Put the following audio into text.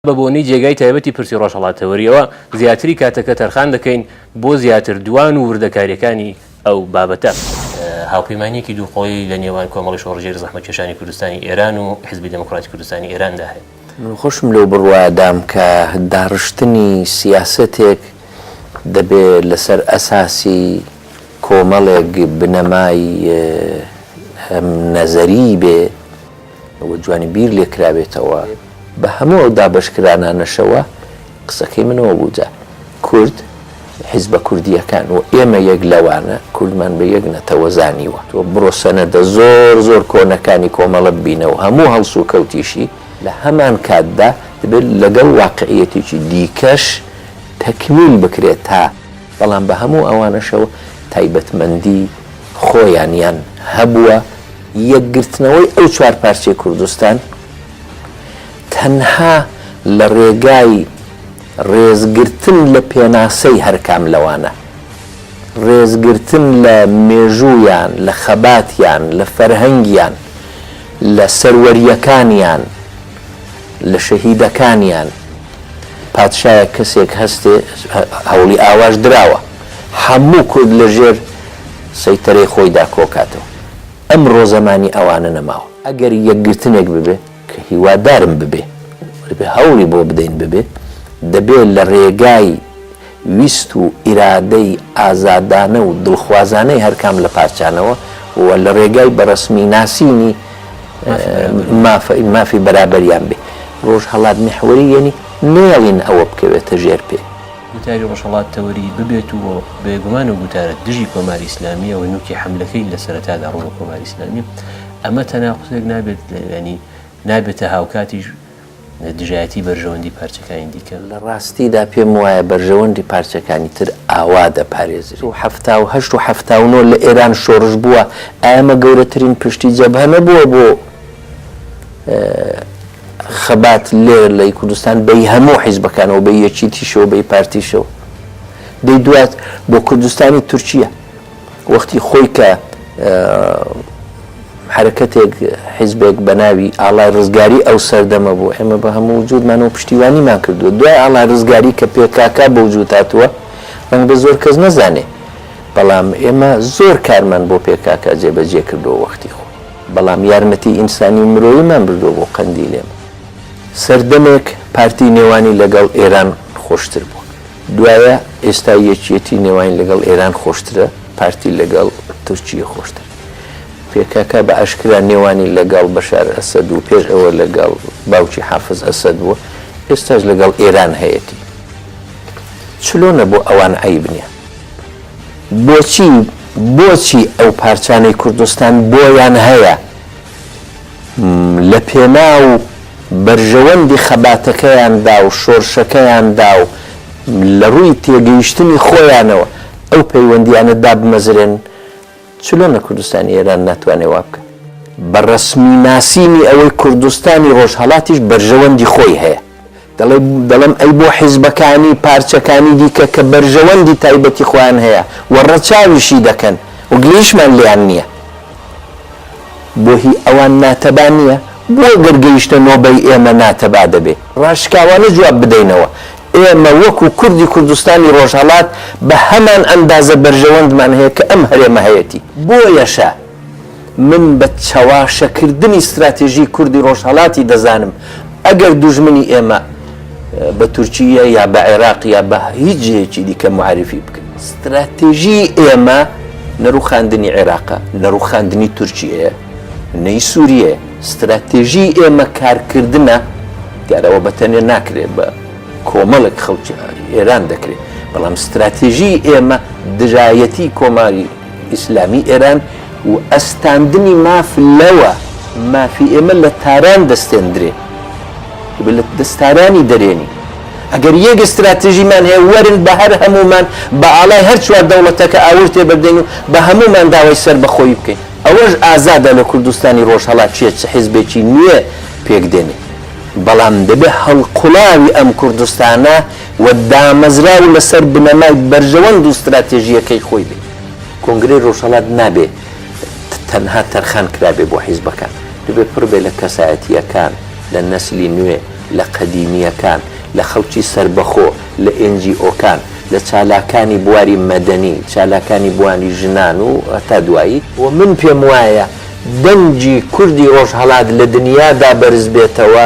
بە بۆنەی جێگای تایبەتی پرسی ڕۆژهەڵاتەوەرییەوە زیاتری کاتەکە تەرخان دەکەین بۆ زیاتر دوان و وردەکارییەکانی ئەو بابەتە. هاوپەیمانییەکی دوو قۆڵی لە نێوان کۆمەڵی شۆڕشگێری زەحمەتکێشانی کوردستانی ئێران و حیزبی دێموکڕاتی کوردستانی ئێراندا هەیە. من خۆشم لەو بڕوایەدام کە داڕشتنی سیاسەتێک دەبێ لە سەر ئەساسی کۆمەڵێک بنەمای نەزەریی بێ، بە جوانی بیر لێ کراوێتەوە بە هەموو ئەو دابەش کرانانەشەوە قسەکەی من ئەوە بوو جا کورد حیزبە کوردییەکان و ئێمە یەک لەوانە کوردمان بە یەک نەتەوە زانیوە تۆ بڕۆ سەنەدە زۆر زۆر کۆنەکانی کۆمەڵە ببینە و هەموو هەڵسوکەوتیشی لە هەمان کاتدا دەبێت لەگەڵ واقعیەتێکی دیکەش تەکمیل بکرێت تا بەڵام بە هەموو ئەوانەشەوە تایبەتمەندی خۆیانیان هەبووە. یەکگرتنەوەی ئەو چوار پارچەی کوردستان تەنها لە ڕێگای ڕێزگرتن لە پێناسەی هەرکام لەوانە، ڕێزگرتن لە مێژوویان، لە خەباتیان، لە فەرهەنگیان، لە سەروەرییەکانیان، لە شەهیدەکانیان، پادشایە کەسێک هەستێ هەوڵی ئاواش دراوە حەموو کورد لە ژێر سەیتەرەی خۆیدا کۆکاتەوە ئەمڕۆ زەمانی ئەوانە نەماوە. ئەگەر یەکگرتنێک ببێ کە هیوادارم ببێ هەوڵی بۆ بدەین ببێ دەبێ لە رێگای ویست و ئیرادەی ئازادانە و دڵخوازانەی هەرکام لە پارچانەوە و لە رێگای بە رەسمی ناسینی مافی بەرابەریان بێ رۆژهەڵات میحوەری یەنی نێڵین ئەوە بکەوێتە ژێر پێ. گوتاری رۆژهەڵات تەوەری ببێت و بێگومان ئەو گوتارە دژی کۆماری ئیسلامیە و نوکی حەملەکەی لە سەرەتادا روو لە کۆماری ئیسلامیە ئەمە تەناقوزێک نابێت یەنی نابێتە هاوکاتیش دژایەتی بەرژەوەندی پارچەکانی دیکە. لە ڕاستیدا پێم وایە بەرژەوەندی پارچەکانی تر ئاوا دەپارێزرێت. و حەفتا و هەشت و حەفتا و نۆ لە ئێران شۆڕش بووە، ئایا ئەمە گەورەترین پشتی جەبهە نەبووە بۆ خەبات لێرە لەی کوردستان بەی هەموو حیزبەکانەوە بەی یەکیتیشەوە بەی پارتیشەوە؟ دەی دوات بۆ کوردستانی تورکیە؟ وەختی خۆی کە حەرەکەتێک، حیزبێک بە ناوی ئاڵای ڕزگاری ئەو سەردەمە بوو، ئێمە بە هەموو وجوودمانەوە پشتیوانیمان کردووە. دوای ئاڵای ڕزگاری کە پێکاکا بە وجوود هاتووە، ڕەنگە زۆر کەس نەزانێ، بەڵام ئێمە زۆر کارمان بۆ پێکاکا جێبەجێ کردووە وەختی خۆی. بەڵام یارمەتیی ئینسانی و مرۆییمان بردووە بۆ قەندیل. ئێمە سەردەمێک پارتی نێوانی لەگەڵ ئێران خۆشتر بوو. دوایە ئێستا یەکیەتی نێواین لەگەڵ ئێران خۆشترە پارتی لەگەڵ تورکیە خۆشتر پێکاکا بە ئاشکرا نێوانی لەگەڵ بەشار ئەسەد و پێش ئەوە لەگەڵ باوکی حافز ئەسەد بووە ئێستاش لەگەڵ ئێران هەیەتی چلۆنە بۆ ئەوان عەیب نیە بۆچی بۆچی ئەو پارچانەی کوردستان بۆیان هەیە؟ لەپێناو بەرژەوەندی خەباتەکەیاندا و شۆرشەکەیاندا و لەڕووی تێگەیشتنی خۆیانەوە ئەو پەیوەندییانە دابمەزرێنن، چلۆن لە کوردستانی ئێران ناتوانێ وا بکات؟ بە ڕەسمی ناسینی ئەوەی کوردستانی ڕۆژهەڵاتیش بەرژەوەندی خۆی هەیە، دەڵێم ئەی بۆ حیزبەکانی پارچەکانی دیکە کە بەرژەوەندی تایبەتی خۆیان هەیە و ڕەچاویشی دەکەن و گلەیشمان لێیان نییە بۆ هی ئەوان ناتەبا نییە؟ بۆ گەر گەیشتە نۆبەی ئێمە ناتەبا دەبێ ڕاشکاوانە جواب بدەینەوە؟ ئێمە وەکو کوردی کوردستانی ڕۆژهەڵات بە هەمان ئەندازە بەرژەوەندمان هەیە کە ئەم هەرێمە هەیەتی بۆیەشە، من بە چەواشەکردنی ستراتێژی کوردی ڕۆژهەڵاتی دەزانم، ئەگەر دوژمنی ئێمە بە تورکییە یا بە عێراق یا بە هیچ جێیەکی دیکە موعەرریفی بکەن. ستراتێژیی ئێمە نە ڕووخاندنی عێراقە، نە ڕووخاندنی تورکییەیە، نەی سووریەیە. ستراتێژیی ئێمە کارکردنە، دیارە ئەوە بە تەنێ ناکرێ، بە کۆمەڵێک خەڵکی ئێران دەکرێ، بەڵام ستراتێژیی ئێمە دژایەتیی کۆماری، ئیسلامی ئێران و ئەستاندنی ماف لەوە مافی ئێمە لە تاران دەستێندرێ ئێمە لە دەست تارانی دەرێنی ئەگەر یەک ستراتژیمان هەیە وەرن بە هەر هەمومان بە ئاڵای هەر چوار دەوڵەتەکە ئاور تێبەردەین و بە هەمومان داوای سەر بە خۆیی بکەین ئەوەش ئازادە لە کوردستانی ڕۆژهەڵات چیە چ حیزبێکی نوێ پێک دێنێ بەڵام دەبێ هەڵقوڵاوی ئەم کوردستانە و دامەزراو و لەسەر بنەمای بەرژەوەند و ستراتێژییەکەی خۆی بێ. کۆنگرەی رۆژهەڵات نابێ تەنها تەرخان کرابێ بۆ حیزبەکان، دەبێ پڕ بێ لە کەسایەتییەکان، لە نەسلی نوێ، لە قەدیمییەکان، لە خەڵکی سەربەخۆ، لە ئێنجیئۆکان، لە چالاکانی بواری مەدەنی، چالاکانی بواری ژنان و. تا دوایی. و من پێم وایە دەنگی کوردی رۆژهەڵات لە دنیادا بەرز بێتەوە،